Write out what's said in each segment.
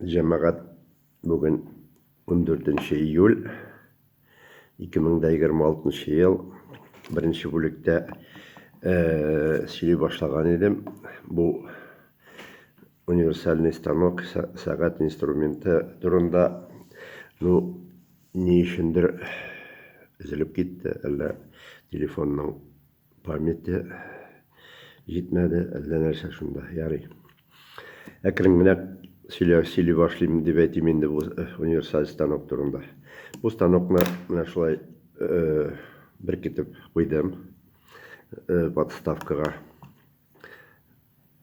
Җәмәгать бүген 14 июль 2026 ел беренче бүлектә сөйли башлаган идем. Бу универсальный станок, сәгать инструменты турында. Ну, ни өчендер өзелеп китте, әллә телефонның Памяте җитмәде, әллә нәрсә шунда, ярый. Әкрен генә сөйлә, сөйли башлыйм дип әйтим инде бу э, универсаль станок турында. Бу станокны менә шулай э, беркетеп куйдым э, подставкага.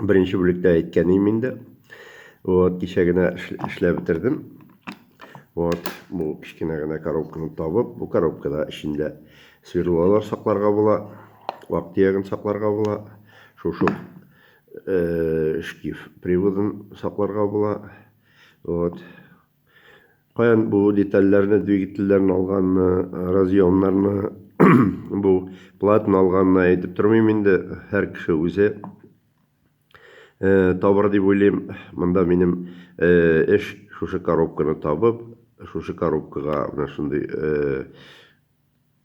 Беренче бүлектә әйткән идем инде. Вот, кичә генә эшләп бетердем. Вот, бу кечкенә генә коробканы табып, бу коробкада эчендә сверлолар сакларга була, вак төягын сакларга була, шушы э, шкиф приводын сакларга була. Вот, Каян бу детальләрне, двигательләрне алганны, разъемнарны, бу платны алганны әйтеп тормыйм инде, һәр кеше үзе табыр дип уйлыйм. Монда минем эш шушы коробканы табып, шушы коробкага менә шундый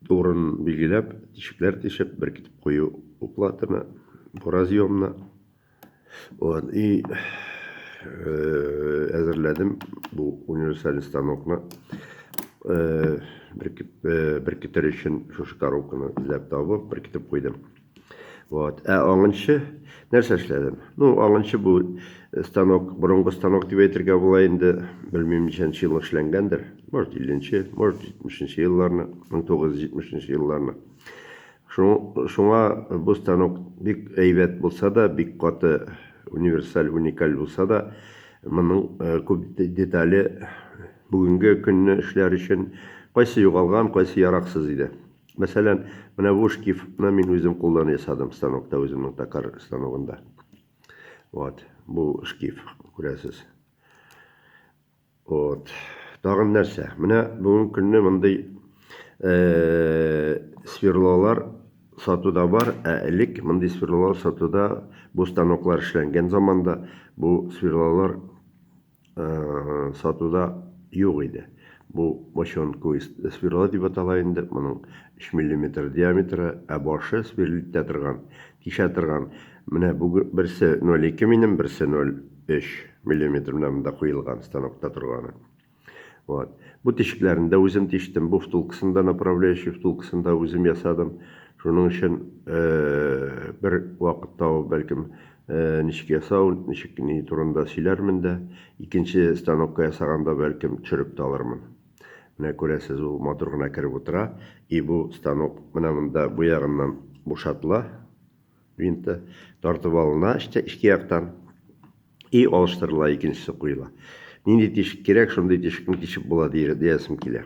Урын билгеләп, тишекләр тишеп, беркетеп кую уплатыны, буразъемны. Вот, и э, әзерләдем бу универсаль станокны. Э, э, беркетер өчен шушы коробканы эзләп табып, беркетеп куйдым. Вот. Ә аңынчы нәрсә эшләдем? Ну, аңынчы бу э, станок, борынгы станок дип әйтергә була инде, белмим ничәнче еллык эшләнгәндер. Может, 50-нче, может, 70-нче елларны, 1970-нче елларны. Шуңа бу станок бик әйбәт булса да, бик каты универсаль, уникаль булса да, моның э, күп детале бүгенге көнне эшләр өчен кайсы югалган, кайсы яраксыз иде. Мәсәлән, менә бу шкифны мин үзем кулдан ясадым станокта, үземнең токар станогында. Вот, бу шкиф, күрәсез. Вот. Тагын нәрсә? Менә бүгенге көнне мондый сверлолар сатуда бар, ә элек мондый сверлолар сатуда бу станоклар эшләнгән заманда бу сверлолар сатуда юк иде. Бу бочонку сверло дип атала инде, моның 3 миллиметр диаметры, ә башы сверлитә торган, тишә торган. Менә бу берсе 0,2 минем, берсе 0,3 миллиметр, менә монда куелган станокта торганы. Вот. Бу тишекләрен дә үзем тиштем, бу втулкасын да, направляющий втулкасын да үзем ясадым. Шуның өчен бер вакыт табып, бәлкем, Ничек ясау, ничек ни турында сөйләрмен дә. Икенче станокка ясаганда, бәлкем, төшереп тә алырмын. Менә күрәсез, ул матур гына кереп утыра. И бу станок менә монда бу ягыннан бушатыла, винты тартып алына эчке яктан и алыштырыла, икенчесе куела. Нинди тишек кирәк, шундый тишекне тишеп була, диясем килә.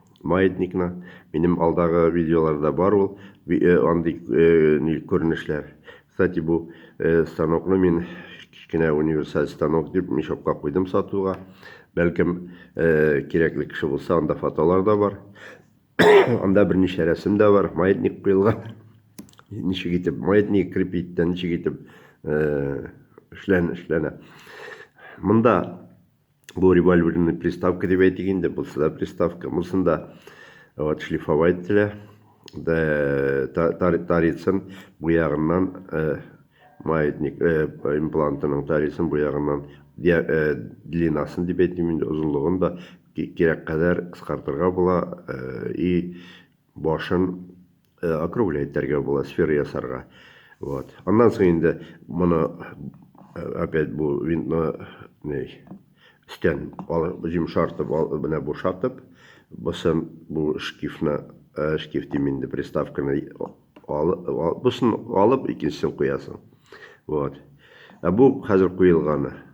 Маятникны. Минем алдагы видеоларда бар ул андый күренешләр. Кстати, бу станокны мин кечкенә универсаль станок дип мешокка куйдым сатуга. Бәлкем, кирәкле кеше булса, анда фотолар да бар. Анда берничә рәсем дә бар, маятник куелган. Ничек итеп маятник крепить тә, ничек итеп эшләнә. Монда Бу револьверны приставка дип әйтик инде, булса да приставка. Булсын да вот шлифовать ителә. Дә тарицын бу ягыннан э, маятник э, имплантының тарицын бу ягыннан э, длинасын дип әйтим инде, озынлыгын да кирәк кадәр кыскартырга була и башын э, округле итәргә була, сфера ясарга. Вот. Аннан соң инде моны э, опять бу винтны не стен җимшартып, менә бушатып, бусын бу шкифны, э, шкиф дим инде приставканы алып, бусын алып икенчесен куясың. Вот. Ә бу хәзер куелганы.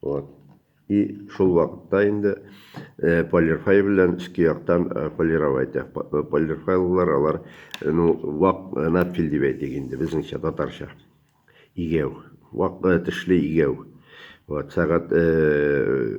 Вот. И шул вакытта инде э, полирфайл белән өске яктан э, полировать. Э, полирфайлар алар ну вак надфил дип әйтик инде безнеңчә татарча. Игәү. Вак тешле игәү. Вот сәгать э,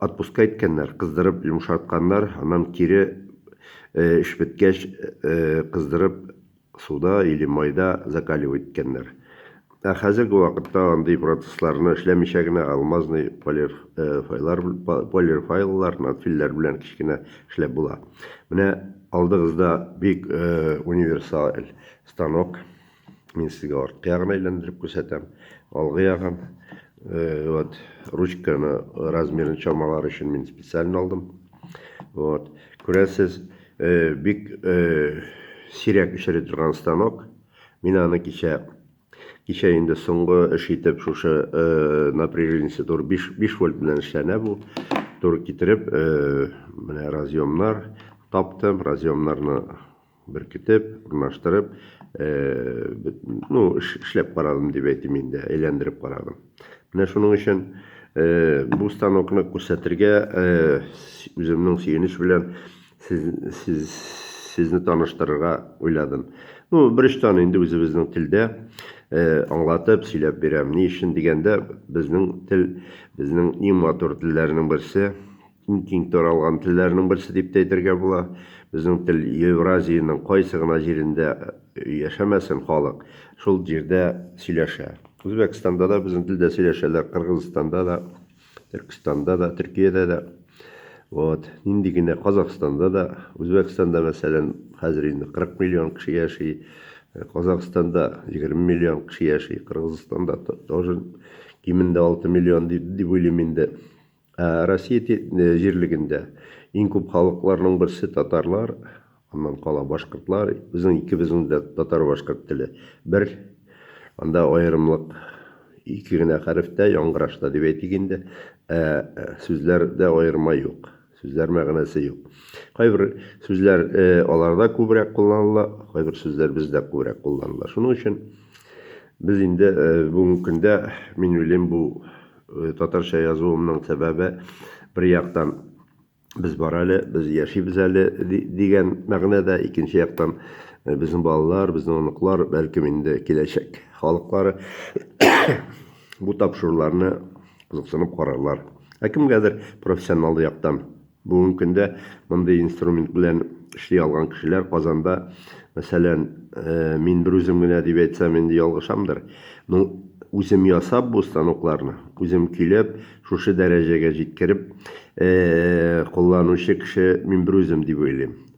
Отпуска иткәннәр, кыздырып йомшартканнар, аннан кире эш беткәч кыздырып суда или майда закаливать иткәннәр. Ә хәзерге вакытта андый процессларны эшләмичә генә алмазный полирфайлар, полирфайлар, надфилләр белән кечкенә эшләп була. Менә алдыгызда бик универсаль станок. Мин сезгә арткы ягын әйләндереп күрсәтәм. Алгы ягын. Э, вот, ручканы размерын чамалар өчен мин специален алдым. Вот. Күрәсез, э, бик э, сирәк эшери торган станок. Мин аны кичә кичә инде соңгы эш итеп шушы э, напряжениясе тур 5, 5 вольт белән эшләнә бу. Тур китереп, э, менә разъемнар таптым, разъемнарны беркетеп, урнаштырып, ну, эшләп карадым дип әйтим инде, әйләндереп карадым. Менә шуның өчен бу станокны күрсәтергә үземнең сөенеч белән сез, сез, сезне таныштырырга уйладым. Ну, бер очтан инде үзебезнең телдә аңлатып, сөйләп бирәм. Ни өчен дигәндә, безнең тел, безнең иң матур телләрнең берсе, Иң киң таралган телләрнең берсе дип тә әйтергә була. Безнең тел Евразиянең кайсы гына җирендә яшәмәсен, халык шул җирдә сөйләшә. Үзбәкстанда да безнең телдә сөйләшәләр, Кыргызстанда да, Төркестанда да, Төркиядә дә. Вот. Нинди генә Казахстанда да, Үзбәкстанда, мәсәлән, хәзер инде 40 миллион кеше яши, Казахстанда 20 миллион кеше яши, Кыргызстанда тоже кимендә 6 миллион дип уйлыйм инде. Ә Россия те- э, җирлегендә иң күп халыкларның берсе татарлар, аннан кала башкортлар, безнең икебезнең дә татар-башкорт теле бер, анда аерымлык ике генә хәрефтә, яңгырашта дип әйтик инде, ә э, сүзләрдә аерма юк, сүзләр мәгънәсе юк. Кайбер сүзләр э, аларда күбрәк кулланыла, кайбер сүзләр бездә күбрәк кулланыла. Шуның өчен без инде э, бүгенге көндә, мин уйлыйм, бу Татарча язуымның сәбәбе, бер яктан, без бар әле, без яшибез әле дигән мәгънә дә, икенче яктан, безнең балалар, безнең оныклар, бәлкем инде киләчәк халыклары бу тапшыруларны кызыксынып карарлар. Ә кемгәдер профессионал яктан Бүгенге көндә мондый инструмент белән эшли алган кешеләр Казанда, мәсәлән, мин берүзем генә дип әйтсәм, инде ялгышамдыр. Ну, үзем ясап бу станокларны, үзем көйләп, шушы дәрәҗәгә җиткереп кулланучы кеше мин берүзем дип уйлыйм.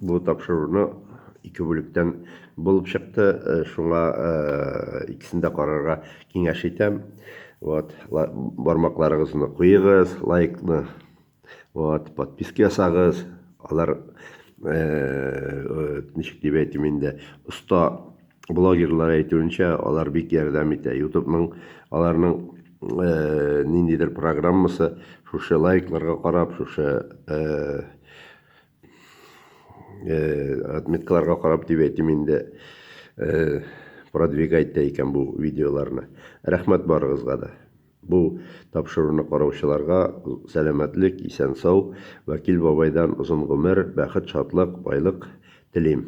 Бу тапшыруны ике бүлектән булып чыкты, шуңа икесен дә карарга киңәш итәм. Вот, бармакларыгызны куегыз, лайкны, вот, подписка ясагыз. Алар ничек дип әйтим инде, оста блогерлар әйтүенчә, алар бик ярдәм итә. Ютубның аларның ниндидер программасы шушы лайкларга карап, шушы Э, отметкаларга карап дип әйтим инде э, продвигать та икән бу видеоларны рәхмәт барыгызга да бу тапшыруны караучыларга сәламәтлек исән сау вәкил бабайдан озын гомер бәхет шатлык байлык телим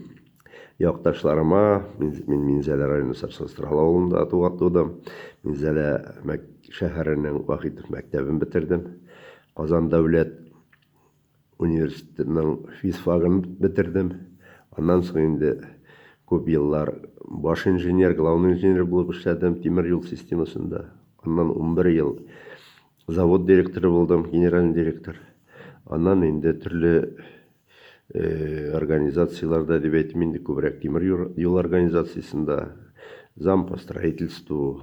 якташларыма мин минзәлә районы сарсанстрал авылында тугатудым минзәлә шәһәренең вахитов мәктәбен бетердем казан дәүләт Университетның физфагын бетердем. Аннан соң инде күп еллар баш инженер, главный инженер булып эшләдем тимер юл системасында. Аннан унбер ел завод директоры булдым, генеральный директор. Аннан инде төрле организацияләрдә, дип әйтим инде, күбрәк тимер юл организациясендә, зам по строительству,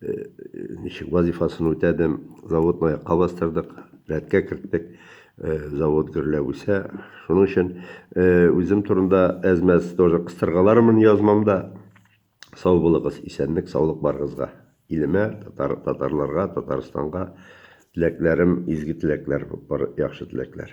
ничек вазифасын үтәдем, заводны аякка бастырдык, рәткә керттек, завод гөрләп үсә. Шуның өчен үзем турында әзмәс тоже кыстыргалармын язмамда. Сау булыгыз, исәнлек, саулык барыгызга. Илемә, татар, татарларга, Татарстанга теләкләрем, изге теләкләр, яхшы теләкләр.